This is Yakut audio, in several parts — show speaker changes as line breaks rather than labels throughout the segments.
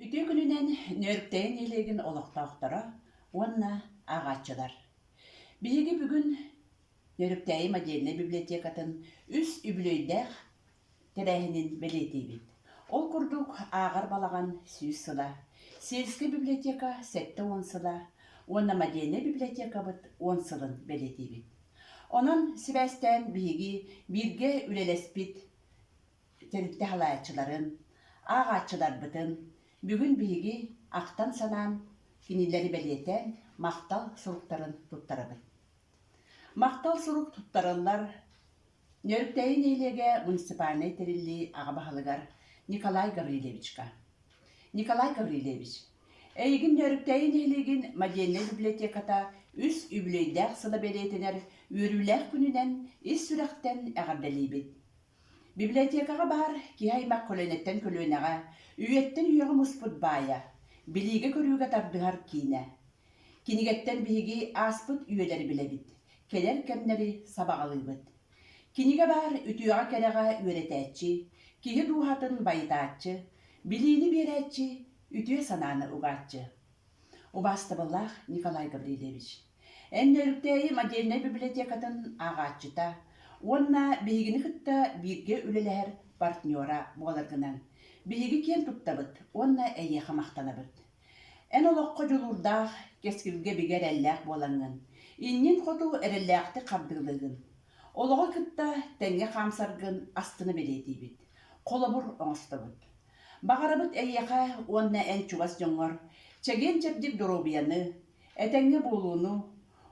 Үтүө күнүнэн Нөөрүктэйин нэһилиэгин олохтоохторо уонна ааҕааччылар! Биһиги бүгүн Нөөрүктэйим отдельнай библиотекатын үс үбүлүөйдээх тэрээһинин бэлиэтиибит. Ол курдук, ааҕар балаҕан сүүс сыла, сельскэй библиотека сэттэ уон сыла уонна модельнай библиотекабыт уон сылын бэлиэтиибит. Онон сибээстээн биһиги бииргэ үлэлэспит тэрилтэ салайааччыларын, ааҕааччыларбытын бүгүн биһиги ахтан-санаан кинилэри бэлиэтээн махтал суруктарын туттарабыт. Махтал сурук туттарыллар Нөрүктэйи нэһилиэгэ муниципальнай тэриллии аҕа баһылыгар Николай Гаврильевичка. Николай Гаврильевич, эйигин Нөрүктэйи нэһилиэгин модельнай библиотеката үс үбүлүөйдээх сыла бэлиэтэнэр үөрүүлээх күнүнэн ис сүрэхтэн эҕэрдэлиибит. Библиотекаҕа баһар киһи аймах көлүөнэттэн көлүөнэҕэ, үйэттэн үйэҕэ муспут баайа, билиигэ-көрүүгэ тардыһар киинэ. Кинигэттэн биһиги ааспыт үйэлэри билэбит, кэлэр кэмнэри сабаҕалыыбыт. Кинигэ баһар үтүөҕэ-кэрэҕэ үөрэтээччи, киһи дууһатын байытааччы, билиини биэрээччи, үтүө санааны угааччы. Убаастабыллаах Николай Гаврильевич! Эн Нөөрүктээйи модельнай библиотекатын ааҕааччыта уонна биһигини кытта бииргэ үлэлэһэр партнера буоларгынан биһиги киэн туттабыт уонна эйиэхэ махтанабыт. Эн олоххо дьулуурдаах, кэскилгэ бигэ эрэллээх буолаҥҥын, инниҥ хоту эрэллээхтик хардыылыыгын. Олоҕу кытта тэҥҥэ хаамсаргын астына бэлиэтиибит, холобур оҥостобут. Баҕарабыт эйиэхэ уонна эн чугас дьоҥҥор чэгиэн-чэбдик доруобуйаны, Этэҥҥэ буолууну,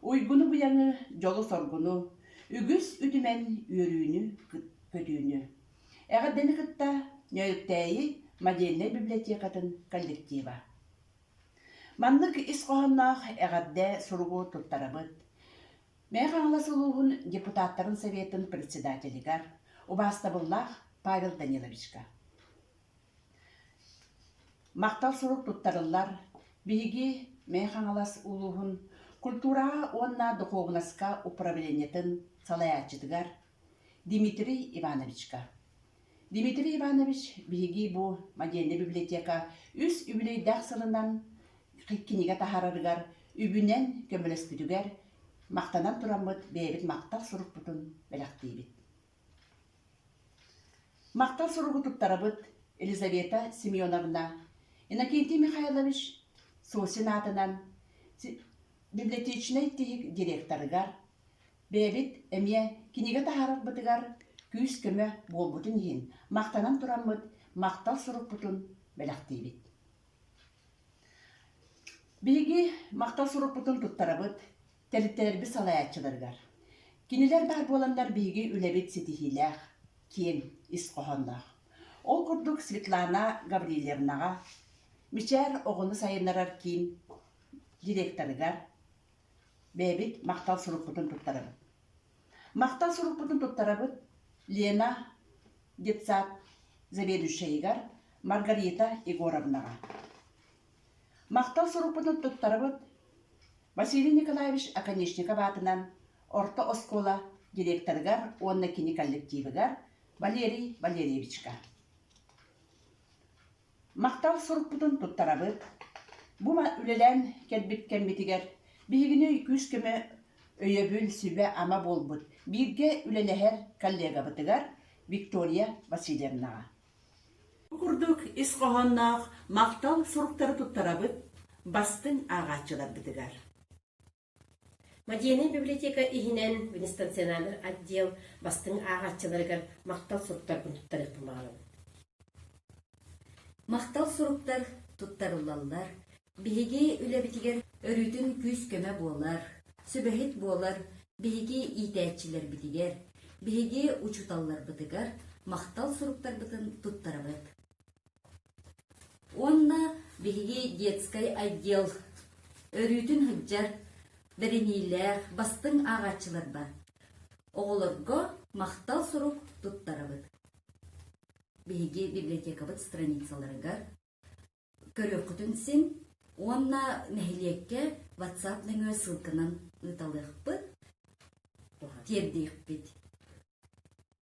уйгуну-быйаҥы, дьолу-соргуну, үгүс үтүмэн үөрүүнү, көтүүнү. Эҕэрдэни кытта Нөөрүктээйи модельнай библиотекатын коллектива. Маннык ис хоһоонноох эҕэрдэ суругу туттарабыт. Мэйэ Хаҥалас улууһун депутаттарын советын председателигэр убаастабыллаах Павел Даниловичка. Махтал сурук туттарыллар, биһиги Мэхэ-Хаҥалас улууһун культураҕа уонна духуобунаска управлениетын салайааччытыгар Дмитрий Ивановичка. Дмитрий Иванович, биһиги бу модельнай библиотека үс үбүлүөйдээх сылынан кинигэ таһаарарыгар, үбүнэн көмөлөспүтүгэр махтанан тураммыт бэйэбит махтал сурукпутун бэлэхтиибит. Махтал суругу туттарабыт Елизавета Семеновна, Иннокентий Михайлович Сосин аатынан библиотечнай тиһик директорыгар, бэйэбит эмиэ кинигэ таһаарарбытыгар күүс-көмө буолбутун иһин махтанан тураммыт махтал сурукпутун бэлэхтиибит. Биһиги махтал сурукпутун туттарабыт Тэрилтэлэрбит салайааччыларыгар. Кинилэр баар буоланнар биһиги үлэбит ситиһиилээх, киэҥ ис хоһоонноох. Ол курдук Светлана Гаврильевнаҕа, Мичээр оҕону сайыннарар киин директорыгар бэйэбит махтал сурукпутун туттарабыт. Махтал сурукпутун туттарабыт Лена детсад заведующайыгар Маргарита Егоровнаҕа. Махтал сурукпутун туттарабыт Василий Николаевич Оконешников аатынан орто оскуола директорыгар уонна кини коллективыгар Валерий Валерьевичка Махтал сурукпутун туттарабыт Бу үлэлээн кэлбит кэммитигэр биһигини күүс-көмө, өйөбүл, сүбэ-ама буолбут бииргэ үлэлэһэр коллегабытыгар Виктория Васильевнаҕа Бу курдук ис хоһоонноох махтал суруктары туттарабыт бастыҥ ааҕааччыларбытыгар. Модельнай библиотека иһинэн Венестациональнай отдел бастыҥ ааҕааччыларыгар махтал суруктарбын туттарыахпын баҕарабын. Махтал суруктар туттарыллаллар, Биһиги үлэбитигэр өрүтүн күүс-көмө буолар, сүбэһит буолар биһиги иитээччилэрбитигэр, биһиги учууталларбытыгар махтал суруктарбытын туттарабыт. Уонна биһиги детскай отдел өрүүтүн сылдьар бэриниилээх бастыҥ ааҕааччыларба оҕолорго махтал сурук туттарабыт. Биһиги библиотекабыт страницаларыгар көрүөххүтүн син уонна нэһилиэккэ WhatsApp нөҥүө ссылканан ыыталыахпыт, тиэрдиэхпит.